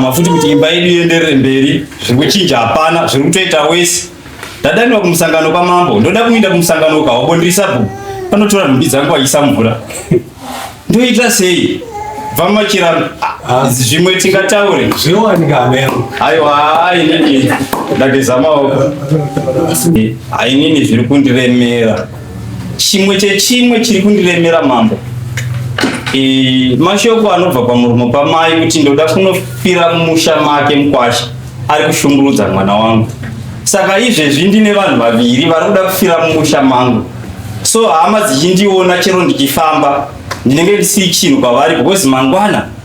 kuzama futi kuti imba yedu ienderere mberi zviri kuchinja hapana zviri kutoita wese ndadanirwa kumusangano kwamambo ndoda kuinda kumusangano uka wabondirisabhu anotora nhumbi dzangu achiisa mvura ndoita sei vamachira ah, zvimwe tingataure aiwa inini ndageza maoko ainini zviri kundiremera Chimwe chechimwe chiri kundiremera mambo e, mashoko anobva pamuromo pamai kuti ndoda kunofira mumusha make mukwasha ari kushungurudza mwana wangu saka izvezvi ndine vanhu vaviri vari kuda kufira mumusha mangu so hama dzichindiona chero ndichifamba ndinenge ndisiri chinhu kwavari because mangwana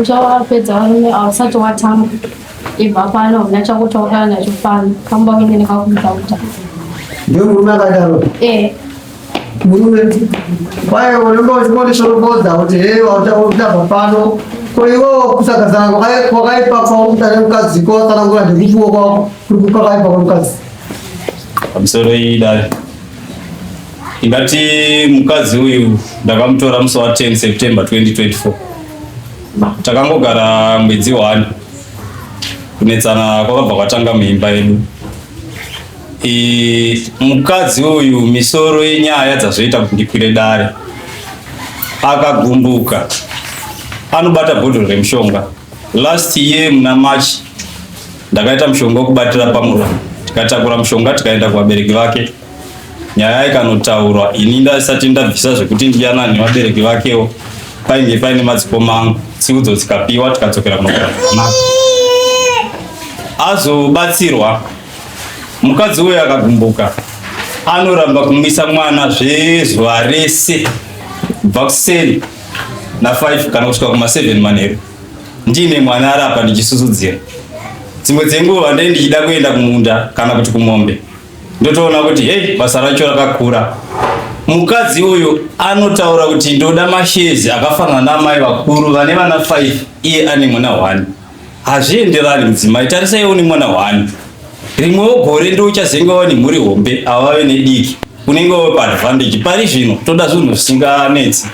uchawapedza varume ausati watamba ibva pano huna chakutaurira nacho pano kamba uine nekakutakuta ndio murume akadaro eh. murume kwaye unenge uchimondishorobodza kuti hei wautabva pano ko iwewo kusaka zana kwakaipa kwaumutane mukadzi ko watsanangura ndekuchiwo kwako kuri kukakaipa kwamukadzi pamisoro iyi dai Ndati mukadzi uyu ndakamutora musi wa 10 September 2024. Takangogara mwedzi one. Kunetsana kwakabva kwatanga muimba yedu. E, mukadzi uyu misoro yenyaya dzazoita kuti ndikwire dare akagumbuka anobata bhodhoro remushonga last year muna march ndakaita mushonga wekubatira pamuromo tikatakura mushonga tikaenda kuvabereki vake nyaya ikanotaurwa ini ndasati ndabvisa zvekuti ndiyana nevabereki vakewo painge paine madzikoma angu tsiudzo dzikapiwa tikadzokera kunogara zvakanaka azobatsirwa mukadzi uyo akagumbuka anoramba kumwisa mwana zvezuva rese kubva kuseni na5 kana kusvika kuma7 manheru ndiine mwana arapa ndichisusudzira dzimwe dzenguva ndai ndichida kuenda kumunda kana kuti kumombe ndotoona kuti hei basa racho rakakura mukadzi uyu anotaura kuti ndoda mashezi akafanana naamai vakuru vane vana 5 iye ane mwana 1 hazvienderani mudzimai tarisai une mwana 1 rimwewo gore ndouchazenge wava nemhuri hombe ava vave nediki unenge wave paadvantage pari zvino toda zvinhu zvisinganetsi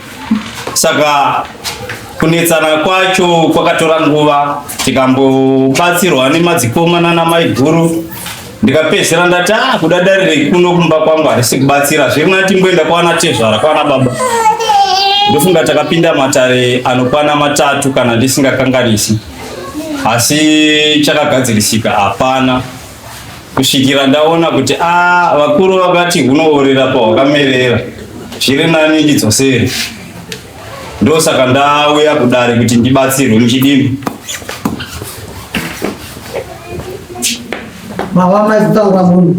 saka kunetsana kwacho kwakatora nguva tikambobatsirwa nemadzikomana namaiguru ndikapedzera ndati ah kuda dare rekuno kumba kwangu harisi kubatsira zve mwana timboenda kwana tezvara kwana baba ndofunga takapinda matare anokwana matatu kana ndisingakanganisi asi chakagadzirisika hapana kusvikira ndaona kuti a ah, vakuru vakati hunoorera pahwakamerera zviri nani ndidzosere ndosaka ndauya kudare kuti ndibatsirwe muchidini mawama itaura munhu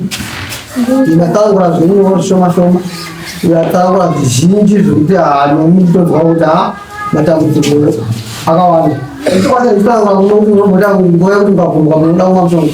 imataura zvenyoro shoma shoma yataura zvizhinji zvekuti hanomi kutonzwa kuti ha matambudziko akawanda ikwata itaura munokunombota ngoya kuti ukabvunzwa munoda kumwa mushonga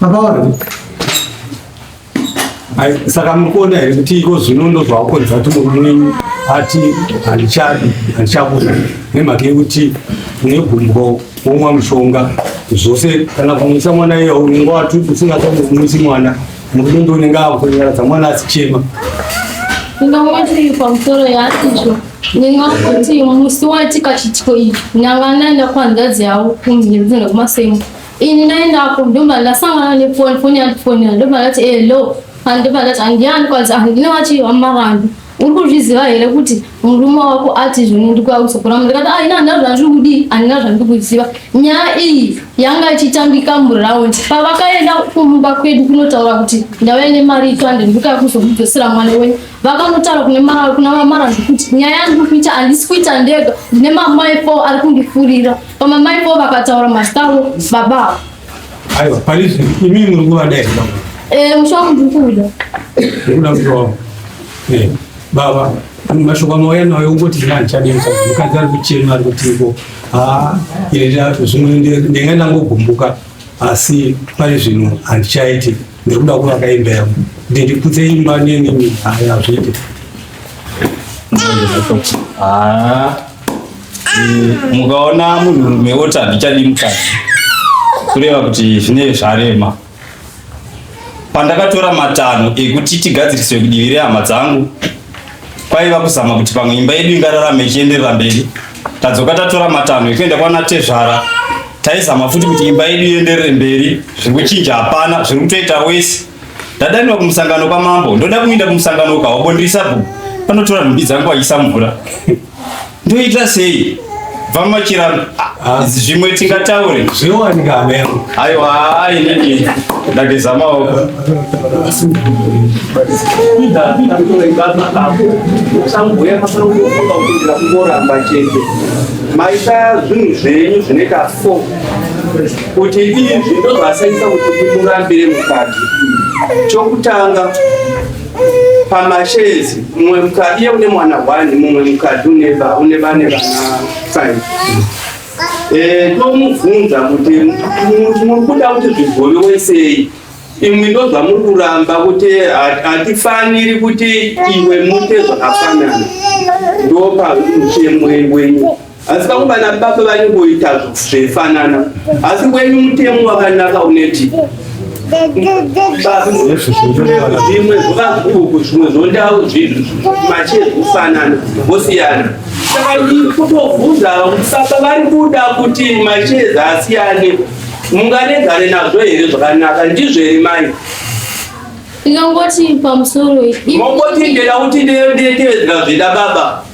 Mapaona. Ai saka mukona here kuti iko zvino ndozvawakonza kuti murume ati handichadi handichakuda nemhaka yekuti negumbo womwa mushonga zvose kana kumwisa mwana iye unenge wati usingatomumwisi mwana Murudo unenge akunyaradza mwana asichema. Ndingamwati pamusoro yaatizvo ndingakuti musi waitika chitiko iyi ndanga ndaenda kuhanzvadzi yavo kumhiri dzenda kumasemo ini ndaendako ndobva ndasangana nefoni foni yandifonera ndobva ndati elo andobva ndati handiyani kwanzi handina vachihamba vanhu uri kuzviziva here kuti murume wako ati zvino ndikuausokora mu ndikati aina handina zvandiri kudii handina zvandiri kuziva nyaya iyi yanga ichitambika muraundi pavakaenda kumumba kwedu kunotaura kuti ndauya nemari itwande ndikuya kuzomudzosera mwana wenyu vakanotaura kune mara kuna vamara zvekuti nyaya yandiri kuita handisi kuita ndega ndine mamai fo ari kundifurira pamamai fo vakataura mazita avo baba avo Aiwa, pari zvino imi muri kuvada here baba? Eh, musha wangu ndiri kuuda. Ndiri kuda musha wangu. Eh, baba, mashoko amauya nayo ungoti zvina ndichadei mukadzi mukadzi ari kuchema ari kuti iko haa ine ndato zvimwe ndinga ndangogumbuka asi pari zvino handichaiti ndiri kuda kuvaka imba yangu kuti ndiputse imba nenini haya hazviite Ah. mukaona munhurume woti handichadi mukadzi kureva kuti zvine zvarema pandakatora matanho ekuti tigadziriswe kudivi rehama dzangu kwaiva kuzama kuti pamwe imba yedu ingararame ichienderera mberi tadzoka tatora matanho ekuenda kwana tezvara taizama futi kuti imba yedu ienderere mberi zviri kuchinja hapana zviri kutoita wese Ndadanwa kumusangano kwa mambo. Ndoda kuinda kumusangano kwa wabo ndiri sabhuku. Panotora nhumbi dzangu achisa mvura. Ndoita sei? Bva machira ah, zvimwe tingataure. Zviwanika amero. Aiwa ai nini ndageza maoko. Ida ida kutoenda napo. Sambuya masoro kufunga kuti ndakungoramba chete. Maita zvinhu zvenyu zvine ka 4 kuti izvi ndozvasaisa kuti ndimurambire mukadzi chokutanga pamashezi mumwe mukadzi iye une mwana one mumwe mukadzi une vane vana five eh, ndomubvunza kuti muri kuda kuti zvigovewe sei imwe ndozvamuri kuramba kuti hatifaniri kuti iwe mute zvakafanana ndopa uchemwe wenyu asi vamwe vana baba vanongoita zvaifanana asi wenyu mutemo wakanaka uneti zvimwe zvovaguku zvimwe zvondau zvinhu machiye zvikufanana vosiyana saka kutovhunza baba vari kuda kuti macheza asiyane munganegare nazvo here zvakanaka ndizvo here mai ndingangoti pamusoro mongoti ndeda kuti ndetevedzera zvida baba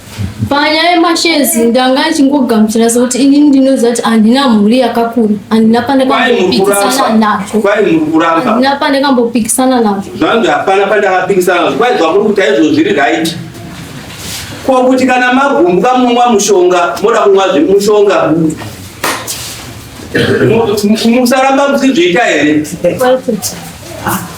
Panyaya yemashares ndanga achingogamuchira sekuti inini ndinoziva kuti handina mhuri yakakura handina pane kambopikisana nazvo kwai muri kuramba handina pane kambopikisana nazvo zvanzi hapana pane akapikisana nazvo kwai zvamuri kuti aizvo zviri right ko kuti kana magumbuka munomwa mushonga moda kumwa zvemushonga musaramba musizviita here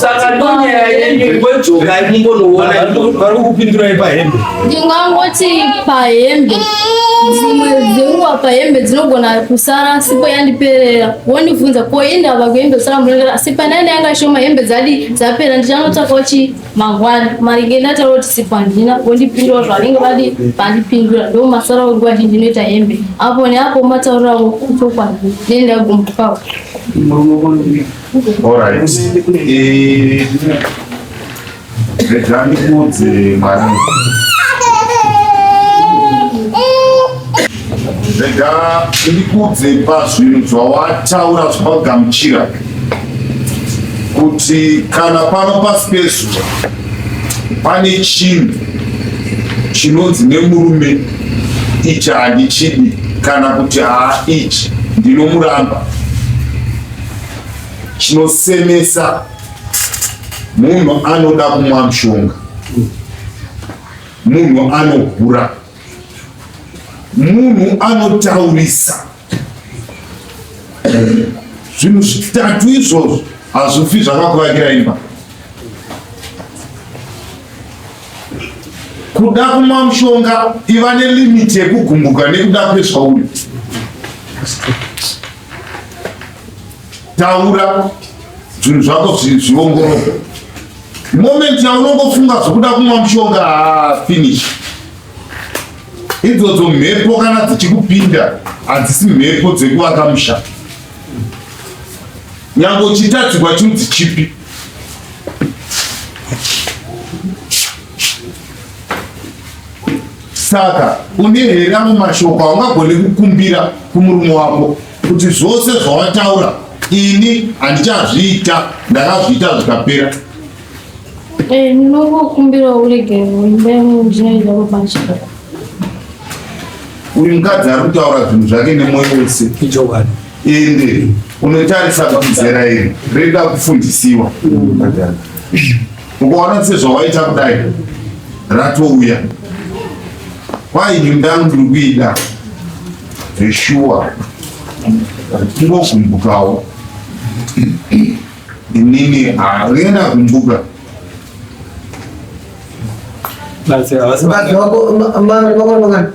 saka ndonyaya yenyu ngojoka imumbonoona vari kupindurai pahembe ndingangoti pahembe dzimwe dzenguva pahembe dzinogona kusara sipo yandiperera wondibvunza koinda vakuhembe kusara murengera asi panaine yanga shoma hembe dzadi dzapera ndichanotsvakawo chi mangwana maringe ndataura kuti sipo handina wondipindura zvavanenge vadi vandipindura ndo masara nguva zhinji inoita hembe apo neapo mataurirawo chokwadi nendagumukavo All right. Eh, rega ndikuudze mwana. Rega ndikuudze pazvinhu zvawataura zvawagamuchira kuti kana pano pasi pezuva pane chinhu chinonzi nemurume ichi handichidi kana kuti haa ichi ndinomuramba chinosemesa munhu anoda kumwa mushonga munhu anohura munhu anotaurisa zvinhu zvitatu izvozvo hazvifi zvakakuvakira imba kuda kumwa mushonga iva nelimiti yekugumbuka nekuda kwezvauri taura zvinhu zvako zviongororwe moment yaunongofunga zvokuda kumwa mushonga ah, finish idzodzo mhepo kana dzichikupinda hadzisi mhepo dzekuvaka musha nyange uchitadzirwa chinzi chipi Saka une here amwe mashoko aungagone kukumbira kumurume wako kuti zvose zvawataura ini handichazviita ndakazviita zvikapera eh, ndinokukumbirawo uregerero imba yangu ndinoenda kubanjira uyu mukadzi ari kutaura zvinhu zvake nemwoyo wese ichokwadi ende unotarisa kuti zera iri reda kufundisiwa mm. ukaona sezvawaita kudai ratouya kwai nyumba ndiri kuida zveshuwa kungogumbukawo inini haenda kumbuka That's it. That's it.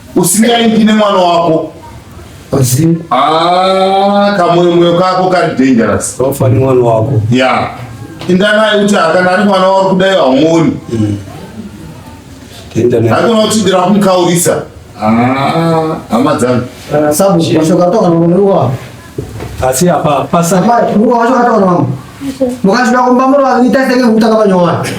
usingaindi nemwana wako ah, kamoyo moyo kako kari dangerous ofa nemwana wako ya indanai kuti akana ari mwana wari kudai haumoni mm. akona kuti ndira kumukaurisa ah, hama dzangu eh, sabu mashoko atoka nokunoiwa asi apa pasaka mashoko atoka nokunoiwa mukazvida kumba muri vaviri taisenge kutanga panyowani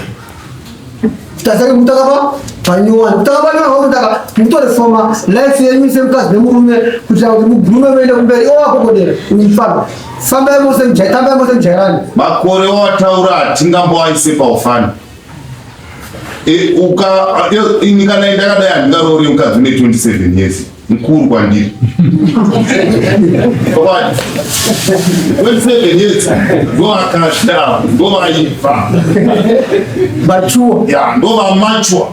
tazari kutaka pa panyowani kutaka panyowani wakutaka mutore foma life yenyu semukadzi nemurume kuitira kuti mugume muende kumberi iwo wakokodera uifamba fambai mose mjai tambai mose mjairani makore wataura hatingamboaise paufani e, uka e, ini kana ndakadai handingaroore mukadzi une 27 years mukuru kwandiri wesevenyedzi ndovakashara ndovaiva machuwa ya ndova machwa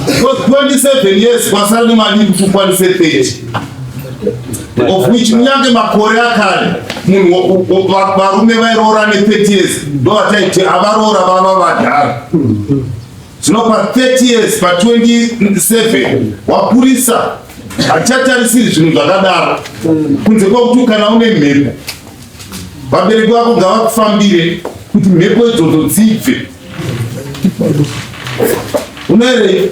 because 27 years kwasara nemali kuti ukwanise 30 of which munyange makore akare munhu varume vairoora ne 30 years ndovataiti avaroora vava vadhara Zvino pa 30 years pa 27 wapurisa hatichatarisiri zvinhu zvakadaro kunze kwekuti kana une mhepo vabereki vako ngavakufambire kuti mhepo idzodzo dzibve unoerei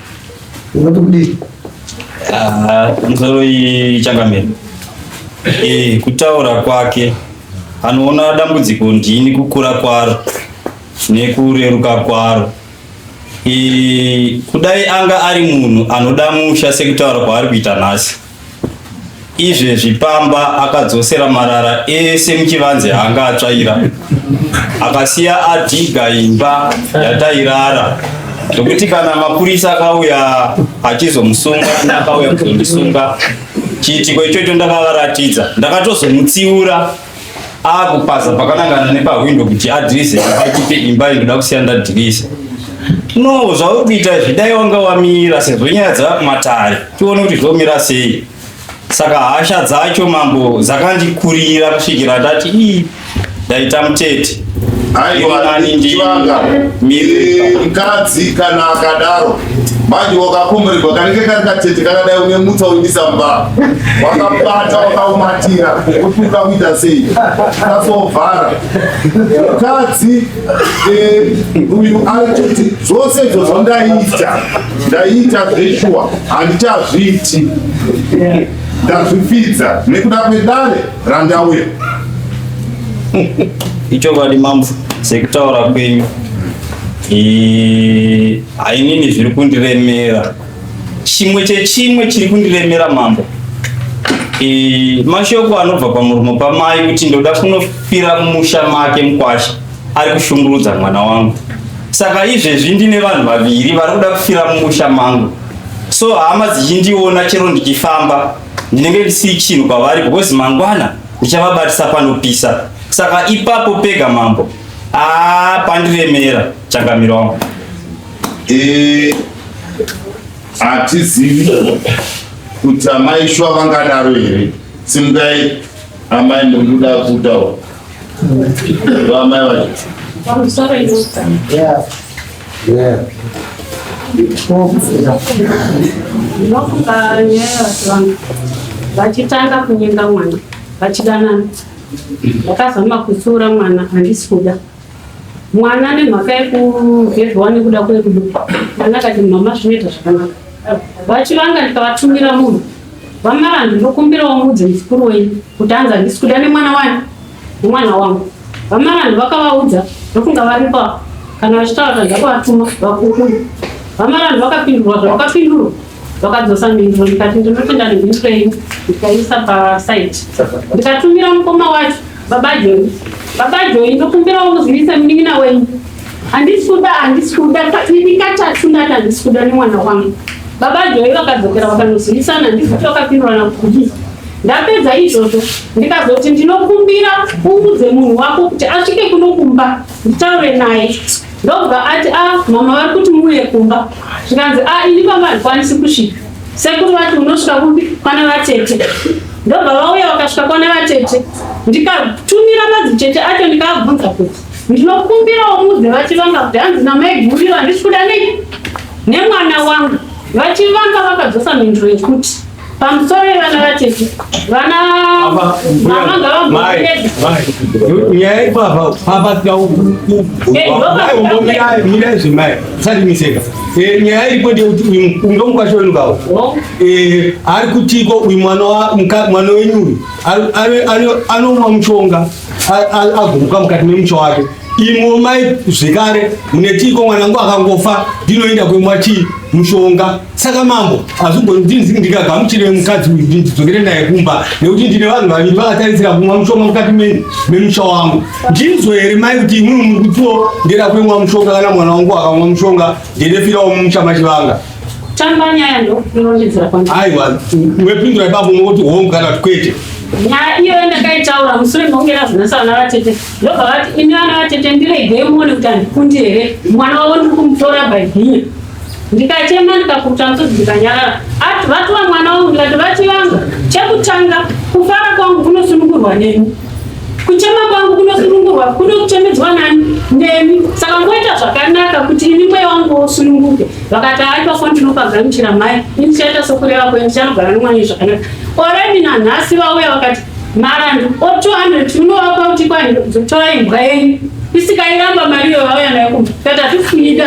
Nzoro iyi changamire. Eh, kutaura kwake anoona dambudziko ndini kukura kwaro nekureruka kwaro. Eh, kudai anga ari munhu anoda musha sekutaura kwaari kuita nhasi. izvezvi pamba akadzosera marara ese muchivanze anga atsvaira akasiya adhiga imba yatairara zvokuti kana mapurisa akauya achizomusunga naakauya kuzondisunga chiitiko ichocho ndakavaratidza ndakatozomutsiura akupaza pakanangana nepahwindo kuti adhirise achipe imba inoda kusiya ndadhirisa no zvauri kuita izvi dai wanga wamira sezvo nyaya dzava kumatare tione kuti zvomira sei saka hasha dzacho mambo dzakandikurira kusvikira ndati ii ndaita mutete aiwaivanga mkadzi kana akadaro manje wakakomborerwa kanenge kari katete kakadai une mutsa uindisa mba wakabata wakaumatira kuti ukakuita sei kasovhara mkadzi eh, uyu aitoti zvose izvo zvandaiita ndaiita zveshuwa handichazviiti ndazvifidza nekuda kwedare Randa uye. Icho vadi mambo sekutaura kwenyu. Eh, ainini zviri kundiremera. Chimwe chechimwe chiri kundiremera mambo. Eh, mashoko anobva pamuromo pamai kuti ndoda kunofira musha make mkwasha ari kushungurudza mwana wangu. Saka izvezvi ndine vanhu vaviri vari kuda kufira mumusha mangu. So hama dzichindiona chero ndichifamba ndinenge ndisiri chinhu kwavari because mangwana ndichavabatisa panopisa saka ipapo pega mambo aa pandiremera changamiro wangu Eh, hatizivi kuti amai shuwa vangadaro here simukai amai munduda kutaura amai vacho Yeah. Ndofunga nyaya yechivanhu vachitanga kunyenga mwana vachidanana vakazama kutsiura mwana handisi kuda mwana ane mhaka yekuvhevhiwa nekuda kwekudu mwana akati mama zvinoita zvakanaka vachivanga ndikavatumira munhu vamaranhu ndokumbirawo mudzi mukuru wenyu kuti anzi handisi kuda nemwana wani Mwana wangu vamarani vakavaudza ndokunga varipa kana vachitaura tadza kuvatuma vakukuru vamarani vakapindurwa zvavakapindurwa vakadzosa mhinduro ndikati ndinotenda nemhinduro yenyu ndikaisa pasaiti ndikatumira mukoma wacho baba joni baba joni ndokumbirawo muzivise munin'ina wenyu handisi kuda handisi kuda ini katatu ndati handisi kuda nemwana wangu baba joi vakadzokera vakanozivisana ndikuti vakapindurana kuti Ndapedza izvozvo ndikazoti ndinokumbira uudze munhu wako kuti asvike kuno kumba nditaure naye ndobva ati a ah, mama vari kuti muuye kumba zvikanzi a ah, ini pamba handikwanisi kusvika sekuru vati unosvika kupi kwana vatete ndobva vauya vakasvika kwana vatete ndikatumira madzitete acho ndikaabvunza kuti ndinokumbirawo mudze vachivanga kuti hanzi namaiguriro handisi kuda nei nemwana wangu vachivanga vakadzosa mhinduro yekuti Pamusoro yevana vatete, vana mama ngavagomere. Nyaya ipapa papa tikaumbomirai mirai zvemai satimiseka. Nyaya iripo ndeyekuti uyu mukunge mukwasha wenu kawo ari kutiko uyu mwana mwana wenyu uyu anomwa mushonga agomuka mukati memusha wake Imwe mai zvekare munetiiko mwana wangu akangofa ndinoenda kwemwa chii mushonga saka mambo hazvigoni ndikagamuchire mukadzi uyu ndidzokere naye kumba nekuti ndine vanhu vaviri vakatarisira kumwa mushonga mukati memusha wangu ndinzwe here mai kuti imwimwe muri kutiwo ndera kwemwa mushonga kana mwana wangu akamwa mushonga ndendefirawo mumusha machivanga tamba nyaya ndo inondinzira kwani aiwa wepindura ipapo mokoti hongu kana kuti kwete nyaya iyoyo ndakaitaura musure mekunge razvinasana vatete ndobva vati ini vana vatete ndiregei muone kuti handikundi here mwana wavo ndiri kumutora bhaibhinya ndikachema ndikakuta musodzi ndikanyarara ati vatova mwana wangu ndikati vati vanga chekutanga kufara kwangu kunosunungurwa neni kuchema kwangu kunosunungurwa kuno kuchemedzwa nani nemi saka ngoita zvakanaka kuti ini mweya wangu wosununguke vakati hai pafo ndinopagamuchira mai ini tichaita sokureva kwe ndichanogara nomwana zvakanaka oredi nanhasi vauya vakati Marandu o 200 munovapa kuti kwani dzotora imbwa yenyu isikairamba mari iyo vauya nayo kumba kati hatifunika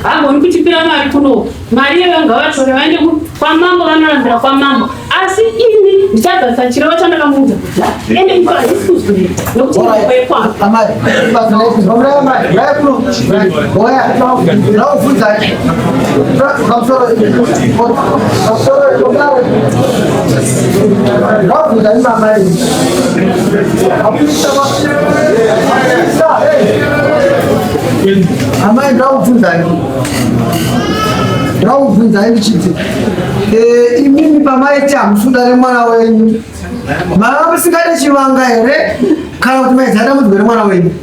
hagoni kutipira mari kuno mari iyo ngavatore vaende kwamambo vanorambira kwamambo asi ini ndichadzasa chirevo chandakamuudza kuti ende iko hazisi kuzoita nokuti mbo yekwangu Thank you. amai ndakubvunzai ndakubvunzai ndichiti eh, imimi pamaiti hamusunda remwana wenyu mava musingade chivanga here kana kuti maizada mudzi remwana wenyu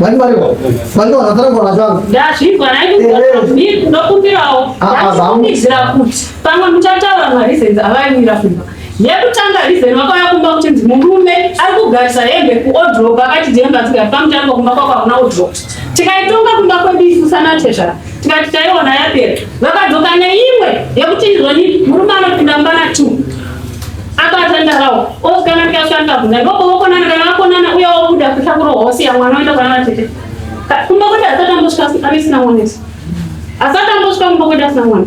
Mari mari wa. Mari wa nataka kwa nataka. Dashi kwa na hivi ni ndo kumbira o. Dashi kumbizira kuti. Pamwe mchataura ma reasons avaimira kumba. Yekutanga reason vakauya kumba kuti ndi murume ari kugarisa hembe ku odroba akati jemba tsika pamutanga kumba kwako hakuna odroba. Tikaitonga kumba kwedu isu sana tezvara. tikati taiona yapera vakadzoka neimwe yekuti ndizoni murume anopinda mubana t akatandarawo osikana tikashandabuna ikoko vokonana kana vakonana uye wobuda kuhla kuro hosi yamwana oenda kwana vatete kumba kwete asatambosvika avisina mwanesi asatambosvika kumba kwete asina mwana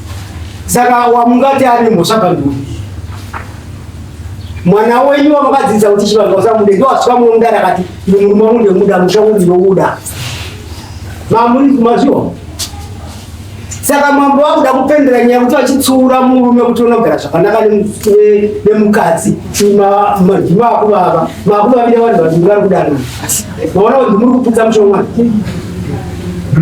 Saka wamungati ane mhosva panduri mwana wenyu wamakadzidzisa kuti chivanhu vasamude ndo wasvika mumwe mudara akati ndi murume wangu ndemuda musha kunzi nokuda mamuri kumazviwa saka mambo vakuda kupendera nyaya kuti vachitsuura murume kuti ona kugara zvakanaka nemukadzi manhi maakuvava maakuvavira vanhu vazhinji vari kudanana maona kuti muri kuputsa mushomwana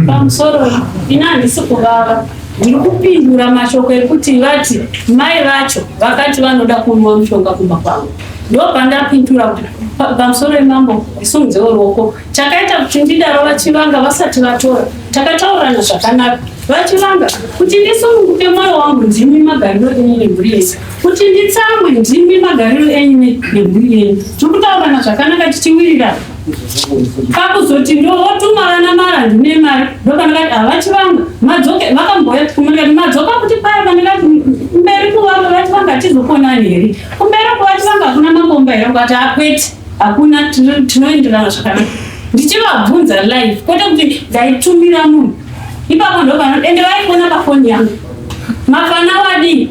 pamusoro ina handisi kuvava Ndiri kupindura mashoko ekuti vati mai vacho vakati vanoda kunwa mushonga kumba kwavo. Ndopandapindura kuti pa- pamusoro wemambo isumudze ruoko. Chakaita kuti ndidaro vachivanga vasati vatora. Takataurana zvakanaka. Vachivanga kuti ndisununguke mwoyo wangu ndimi magariro enyu nemhuri yenyu. Kuti nditsamwe ndimi magariro enyu ne- nemhuri yenyu. Tiri kutaurana zvakanaka tichiwirirana. kakuzoti ndovotuma vana mara ndine mari ndopandikati havachivanga madzoke vakambouya kumandikati madzoka kuti paya pandikati mberi kuvanga vachivanga hatizokonani here kumberi kuvachivanga hakuna makomba here kuvati hakwete hakuna tinoenderana zvakanaka ndichivabvunza live kwete kuti ndaitumira munhu ipapo ndopano ende vaikuona pafoni yangu mafana wadii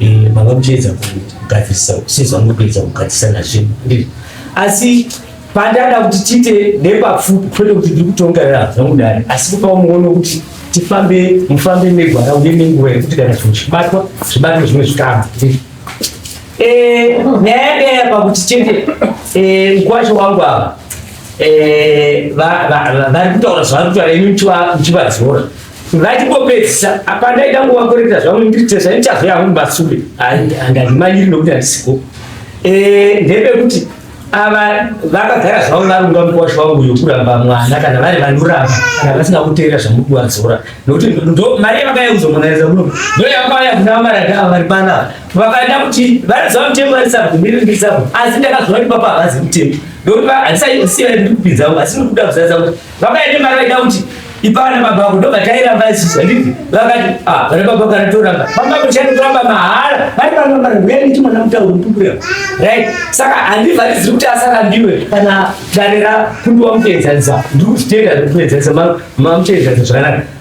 Eh, baba muchiedza kugadzirisa kusezwa mukuedza kugadzisana zvinhu andii asi pandada kuti tiite nepapfupi kwete kuti ndiri kutongerera zvangu dare asi kupa muono kuti tifambe mufambe megwara uye nenguva yekuti kana zvinhu zvibatwa zvibatwe zvimwe zvikama eh, nyaya yadaya pakuti chete eh, mkwasho wangu ava vari kutaura zvavari kutaura imi muchivadzora ngatimbopedzisa apa ndaida nguva kureta zvangu nditesa ndichazo yangu mubasube andandimanyiri nokuti andisiko eh, ndebe kuti ava vakagara zvavo varunga mukwasha wangu yokuramba mwana kana vari vanoramba kana vasina kuteera zvamuri kuvadzora nokuti mari yavakayauza mwanareza kuno ndo yakauya kuna vamarada ava vari panava vakaenda kuti vanoziva mutemo varisabvumirindisapo asi ndakazoa kuti papa havazi mutemo ndokuti handisaiziva ndiri kupinzavo asi ndiri kuda kuzaza kuti Vakaita mari vaida kuti ipana baba vako ndobva tairamba isisi handiti vakati ah vana baba vako anotoramba baba vako chani kuramba mahara vari pano mari huya niti mwana mutauro mupupura right saka handivharidziri kuti asarambiwe kana dare ra kundiwa muteedzanisa ndiri kuzvitenda zvekuedzanisa mamuteedzanisa zvakanaka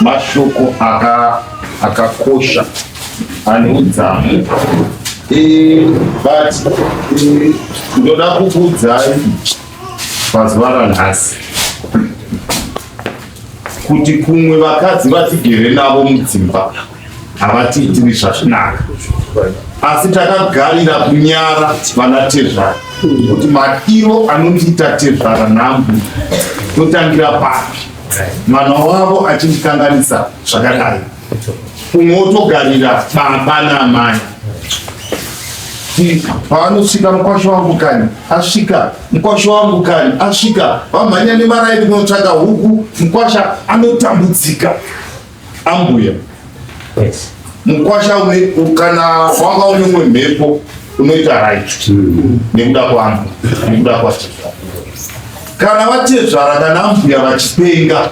mashoko akakosha ane udzamu e, but e, ndoda kukuudzai pazuva ranhasi kuti kumwe vakadzi vatigere navo mudzimba havatiitiri zvazvinaka asi takagarira kunyara vana tezvara kuti matiro anondiita tezvara nhambu totangira papi mwana wavo achindikanganisa zvakadai kumwe wotogarira baba naamai paanosvika mukwasho wangu kani asvika mukwasho wangu kani asvika vamhanya nemaraini kunotsvaga huku mukwasha anotambudzika Ambuya. Yes. Mukwasha une kana wanga une umwe mhepo unoita right mm. nekuda kwangu nekuda kwatezvara kana vatezvara kana ambuya vachipenga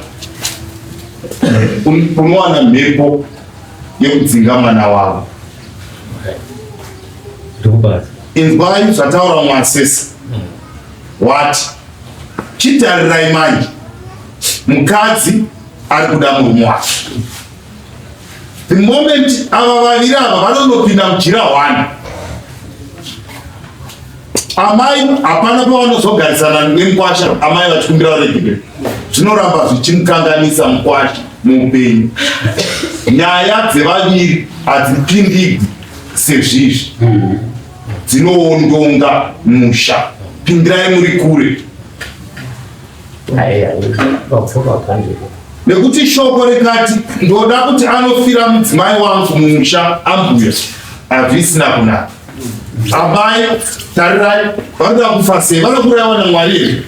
unowana mhepo yekudzinga mwana wavo inzwai zvataura mwasisi wati chitarirai manje mukadzi ari kuda murume wake the moment ava vaviri ava vanonopinda mujira hwani amai hapana pavanozogarisana nemukwasha amai vachikumbira varegere zvinoramba zvichimukanganisa mukwasha muupenyu nyaya dzevaviri hadzipindigwi sezvizvi dzinoondonga musha pindirai muri kure nekuti shoko rikati ndoda kuti anofira mudzimai wangu mumusha ambuya hazvisina kunaka amai tarirai vanoda kufa sei vanoda kuraiwa namwari here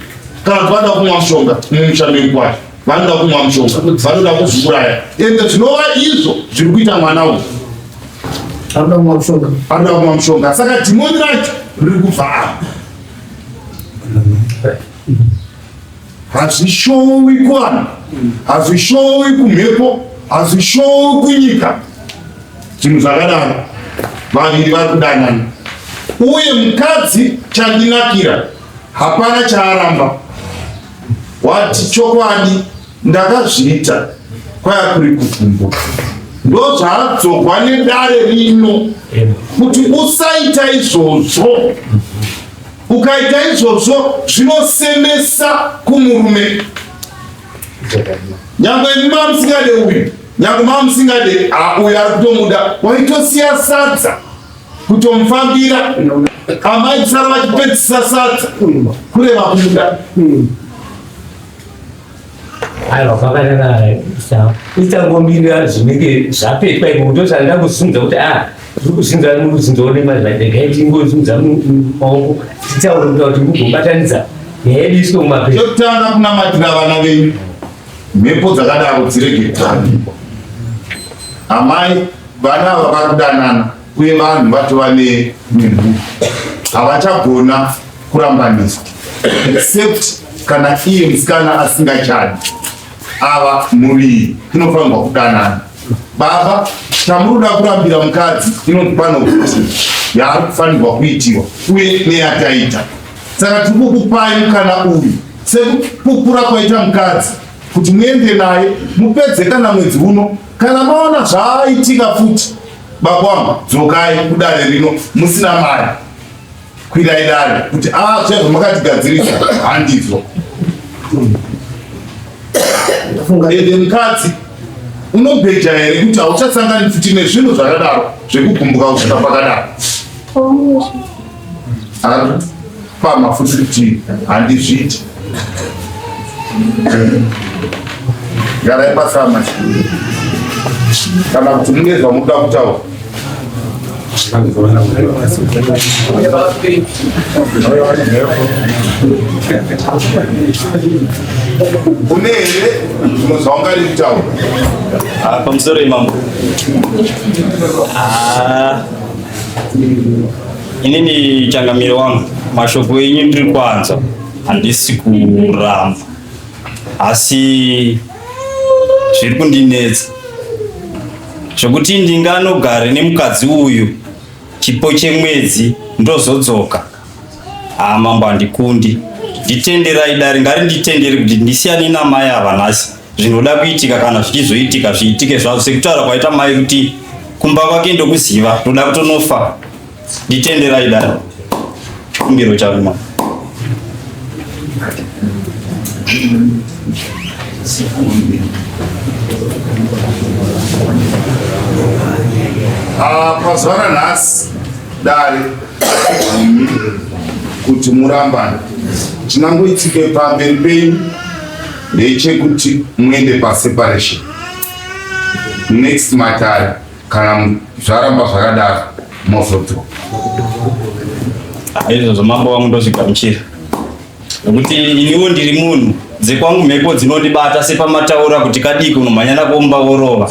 kana kuti vanoda kumwa mushonga mumusha mekwacho vanoda kumwa mushonga vanoda kuzviuraya ende zvinova izvo zviri kuita mwana uyu anoda kumwa mushonga anoda kumwa mushonga saka dhimoni racho riri kubva apa hazvishowi kuvanhu hazvishowi kumhepo hazvishowi kunyika zvinhu zvakadaro vaviri vari kudanana uye mukadzi chandinakira hapana chaaramba wati chokwadi ndakazviita kwaya kuri kuvhumbuka ndozvaadzogwa nedare rino kuti usaita izvozvo Ukaita izvozvo zvinosemesa kumurume. Nyangwe imi mamusingade uyu, nyangwe mamusingade uyu ari kutomuda, waitosiya sadza kutomufambira amai kusara vachipedzisa sadza kureva kumuda. aiwa kwakanaka isa isangomirira zvinenge zvapetwa iko kuti osanda kusunza kuti a ah, tiri kuzinza muruzinza onemazvadegai tingozunza maoko tichaurira kuti mugobatanidza yaedu isiko mumapepa chekutanga kunamatira vana venyu mhepo dzakadaro dzirege kutambikwa amai vana ava vari kudanana uye vanhu vatova nemhumhu havachagona kurambanisa except kana iye musikana asingachadi ava muviri inofanirwa kudanana baba chamunoda kurambira mukadzi inonzi pano kuti yaari kufanirwa kuitiwa uye neyataita saka tiri kukupai mukana uyu sekukukura kwaita mukadzi kuti muende naye mupedze kana mwedzi uno kana maona zvaaitika futi Baba wangu dzokai kudare rino musina mari. Kwirai dare kuti ah zvaizvo makatigadzirisa handizvo. Ende mukadzi unobheja here kuti hauchasangani futi nezvinhu zvakadaro zvekugumbuka kusvika pakadaro. akapama futi kuti handizviiti garai pasama kana kuti mune zvamuda kutaura une here zvimwe zvaungari kutaura ah, pamusoro imambo ah. Inini changamiro wangu mashoko enyu ndiri kwanza handisi kuramba asi zviri kundinetsa zvekuti ndinganogare nemukadzi uyu chipo chemwedzi ndozodzoka haa mambo handikundi nditenderai dare ngari nditendere kuti ndisiyane namai ava nhasi zvinoda kuitika kana zvichizoitika zviitike zvazvo sekutaura kwaita mai kuti kumba kwake ndokuziva ndoda kutonofa nditenderai daro kumbiro charuma ah, pazuva ranhasi dare kuti murambana chinangoitike pamberi penyu ndechekuti muende paseparation next matare kana zvaramba zvakadaro mozoto izvozvo mambo wangu ndozvigamuchira nekuti iniwo ndiri munhu dzekwangu mhepo dzinondibata sepamataura kuti kadiki unomhanyana kuomba worova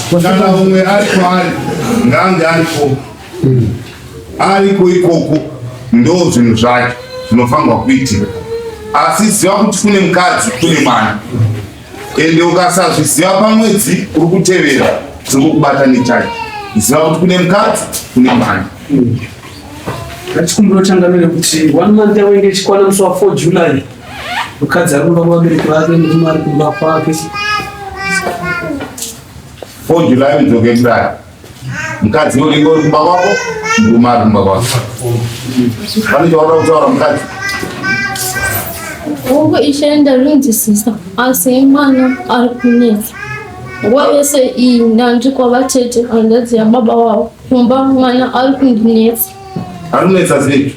Kana umwe ari kwaari ngaange ariko ariko ikoko, ndo zvinhu zvacho zvinofanirwa kuitika. Asi ziva kuti kune mukadzi, kune mwana, ende ukasazviziva pamwedzi uri kutevera zvinokubata nechacho. Ziva kuti kune mukadzi, kune mwana. Chikumbiro changa ndechekuti one month yavo inge ichikwana musi wa 4 July mukadzi ari kumba kuvabereki vake murume ari kumba kwake four july udzoke kudai mukadzi uringo uri kumba kwako murume ari kumba kwako pane chaoda kutaura mukadzi uku ishe ndarinzisisa asi mwana ari kunetsa nguva yese iyi ndandi kwavatete handadziya baba wavo kumba mwana ari kundinetsa ari kunetsa sei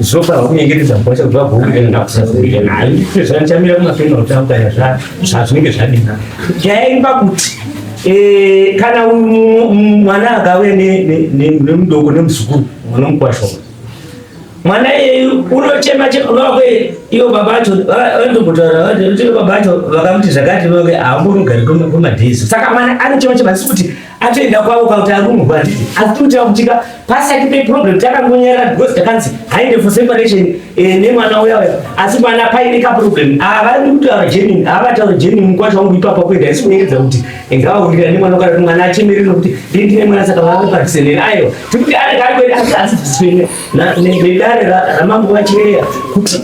zvopa vakunyengetedza mukwacha kuti vagouuakusazoia nayo izvo zvanichamira kumasonera kuti akutanya zvazvinenge zvadina nyaya iri pakuti eh, kana mwana akave nemudoko nemuzukuru mwana mukwasho mwana iyeyu unochema chema vave ivo baba vacho vanotombotaura vati baba vacho vakamuti zvakati vave haambonogari kwemadhezi saka mwana anochema chema asi kuti atoenda kwavo kwakuti arumurwa handiti asi tinotaura kuti ka pasati peproblem takangonyarara because takanzi haende for separation eh, nemwana uya uya asi mwana paine kaproblem havadi ah, kutaura genuine havataura ah, genuine mukwasha wangu ipapa kuenda isi kunyengedza kuti ngavaurira nemwana ukaa mwana achemerere nokuti ndii ndine mwana saka vaakupatisene aiwa tikuti ari kari kuenda asi asi nedare ramambo vachireya kuti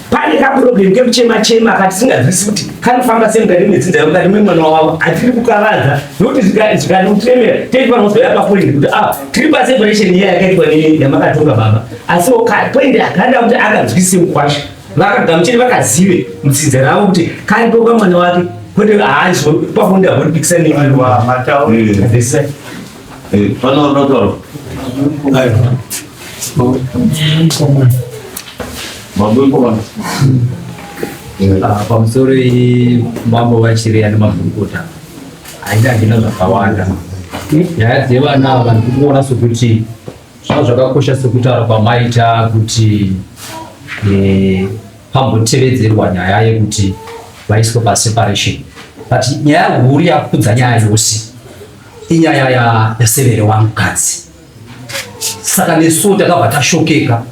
pane kaproblem kekuchema chema katisinganzwisi kuti kanofamba sei mukati medzinza yavo mukati memwana wavo hatiri kukavadza nokuti zvikatiutremera tei vanozoya papoint kuti a ah, tiri paseparation iya yakaitwa yamakatonga baba asi point akanda kuti akanzwise mukwasha vakagamuchiri vakazive mudzinza ravo kuti karipoka mwana wake kwete haazvo pafonda vonipikisa nemwana wavo Eh, pano roto. Ayo. Mambo yuko wapi? Ah, pamusoro iyi mambo vachireya nemakurukota haida hina zvakawanda nyaya dzevana ava ndikuona sokuti zvava zvakakosha sekutaura kwamaita kuti eh, pambotevedzerwa nyaya yekuti vaiswe paseparation but nyaya huru yakudza nyaya yose Inyaya ya yasevere wangu kadzi. Saka nesu takabva tashokeka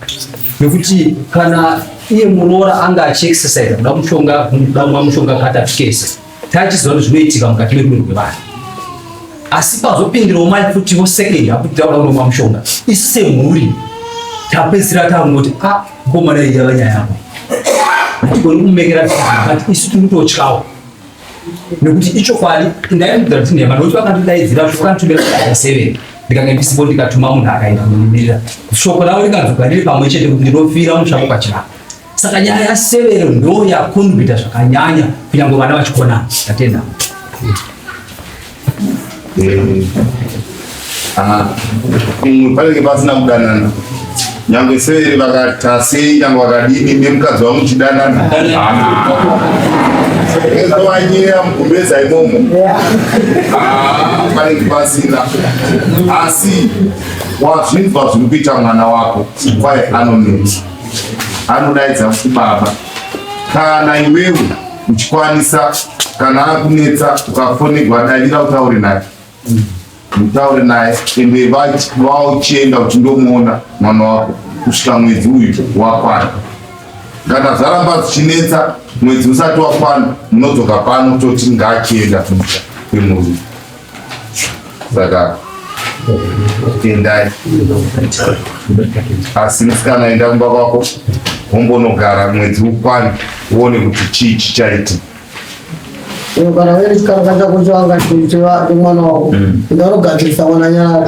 nekuti kana iye muroora anga achiexercise kuda mushonga kuda mwa mushonga katatu kese taichiziva kuti zvinoitika mukati merume rwevanhu asi pazopindirawo mai futiwo second akuti tauda kuda mwa mushonga isu semhuri tapedzisira tangoti a ah, komana iyi yava nyaya yavo hatigoni kumumekera but isu tiri kutotyawo nekuti ichokwadi ndaimudza kuti nhema nokuti vakandidaidzira kuti vakanditumira kudaira seven ndikange ndisipo ndikatuma munhu akaenda kundimirira shoko ravo rikanzwika riri pamwe chete kuti ndinofira mutsvako pachirapa saka nyaya yasevero ndo yakonbita zvakanyanya kunyange vana vachikonana tatenda Eh. Ah. Mm, panenge pasina kudanana nyange severi vakatase nyange vakadini nemukadzi wangu chidanana ezovanyira mukumbeza imomo panenge ah, pasina asi wazvinzwa zviri kuita mwana wako kwaye anonetsa anodaidza kuti baba kana iwewe uchikwanisa kana akunetsa ukafonegwa davira utaure naye mutaure naye ende vauchienda kuti ndomuona mwana wako kusvika mwedzi uyu wakwana kana zvaramba zvichinetsa mwedzi usati wakwana munodzoka pano toti ngaachienda kumusha kwemurume saka endai asi musikana enda kumba kwako wombonogara mwedzi ukwane uone kuti chii chichaitika kana veri chikara kata kuti vanga chimwana wako ndinogadzirisa mwana nyara